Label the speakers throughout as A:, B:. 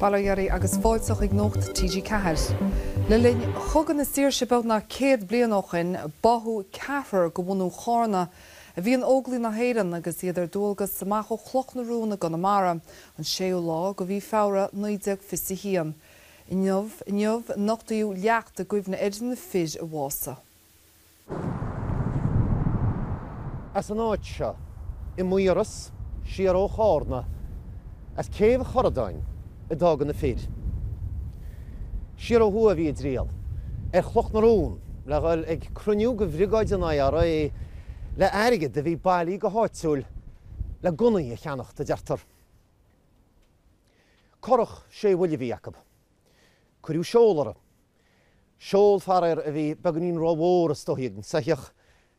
A: Bail ó Dhia oraibh agus fáilte chuig Nuacht TG4. Le linn Chogadh na Saoirse beagnach céad bliain ó shoin, báthadh ceathrar go bhunú Chárna, a bhí in Óglaigh na hÉireann agus iad ar dualgas amach ó Chloch na Rón i gConamara, an séú lá go mhí Feabhra 1921. Inniu, inniu, nochtaíodh leacht i gcuimhne ar na fir a bhásaigh.
B: As an áit seo, i Maoras, siar ó Chárna, as Céibh Chorradáin, a d'fhága na fir. Siar ó thuaidh a bhí a dtriall, ar Chloch na Rón, le dhul ag cruinniú go bhriogáid an IRA le airgead a bhí bailí go háitiúil le gunnaí a cheannacht, a deirtear. Currach sé bhuille a bhí acu. Cuireadh seol uirthi Seol, faraoir, a bhí beagainín ró-mhór is dóigh ag an soitheach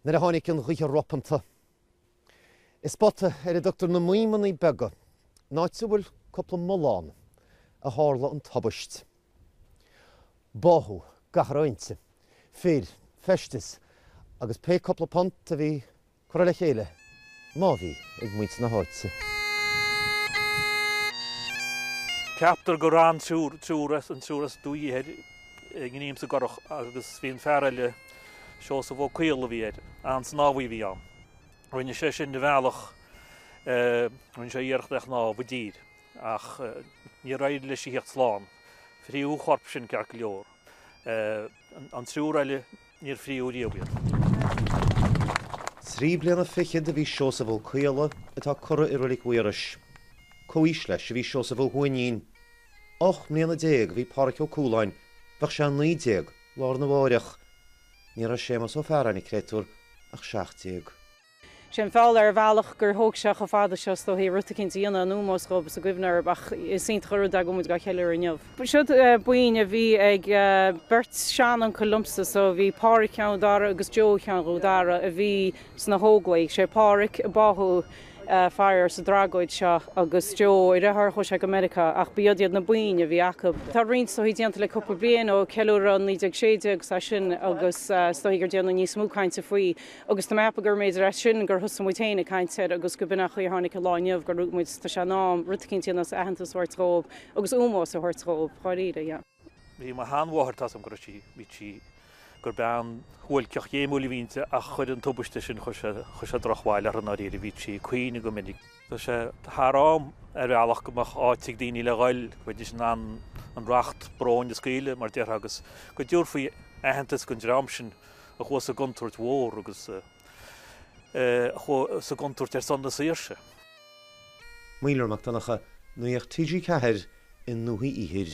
B: nuair a tháinig an ghaoth ropanta. I spota ar a dtugtar na Maidhmeannaí Beaga, in áit a bhfuil cúpla mullán, a tharla an tubaist. Báthadh gach a raibh inti, fir, feisteas agus pé cúpla punt a bhí curtha le chéile má bhí ag muintir na
C: háite. Ceaptar go raibh an triúr as, an triúr as Dumhaigh Ithir i ngreim sa gcurach agus bhí an fear eile, Seosamh Ó Caodhla a bhí air, an-snámhaí a bhí ann. Rinne sé sin a bhealach, rinne sé iarracht a shnámh i dtír ach níor éirigh leis a theacht slán. Fritheadh a chorp sin ceart go leor. An triúr eile, níor fríodh riamh
B: iad. Trí bliana fichead a bhí Seosamh Ó Caodhla atá curtha i Roilig Mhaorais. Comh-aois leis a bhí Seosamh Ó hUaithnín. Ocht mbliana déag a bhí Pádhraic Ó Cúláin, bheadh sé a naoi déag lá arna mháireach. Ní raibh Séamas Ó Fearraigh, an créatúr, ach seacht déag. sé
D: an feall ar bhealach gur thóg sé cho fada seo, is dóichí, rud eicínt a dhéanamh in úmós dhób is i gcuimhne orab, ach is iontach an rud é go bhfuil muid dhá cheiliúradh inniu. Siod boinn a bhí ag beirt sean-uncail liomsa so bhí Pádhraic Cheann Dara agus Joe Cheann Dhú Dara a bhí sna hÓglaigh. Sé Pádhraic a báthadh faraor sa dtragóid seo agus Joe a dheartháir chuaigh sé go Meiriceá ach b'iod iad na boinn a bhí acu. Tá roinnt is dóichí déanta le cúpla bliain ó ceiliúradh 1916 agus as sin agus is dóichí gur déanadh níos mó cainte faoi. Agus tá mé ag ceapadh go mb'fhéidir as sin gur thosaigh muid féin ag caint air agus go b'in an chaoi a tháinig an lá inniu gur luaigh muid, tá sé in am, rud eicínt a dhéanamh is aitheantas a thabhairt dhóibh agus ómós a thabhairt dhóibh, dháiríre, yeah. Bhí mo shean-mháthair,
C: tá 's agam go raibh sí, bhí sí, gur bean shuáilceach ghéimiúil a bhí inti ach chuir an tubaiste sin, chuir sé, chuir sé droch-bhail uirthi, ndáiríre, bhíodh sí ag caoineadh go minic. Tá sé thar am, ar bhealach, go mbeadh áit ag daoine le ghoil, go mbeidís in ann an racht bróin a scaoileadh, mar déarfá, agus go dtabharfaí aitheantas don dream sin, a chuaigh sa gcontúirt mhór agus a chuaigh sa gcontúirt ar son na saoirse.
B: Maolra Mac Donncha, Nuacht TG4 i nDumhaigh
A: Ithir.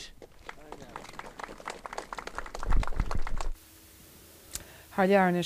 A: Thar lear anois.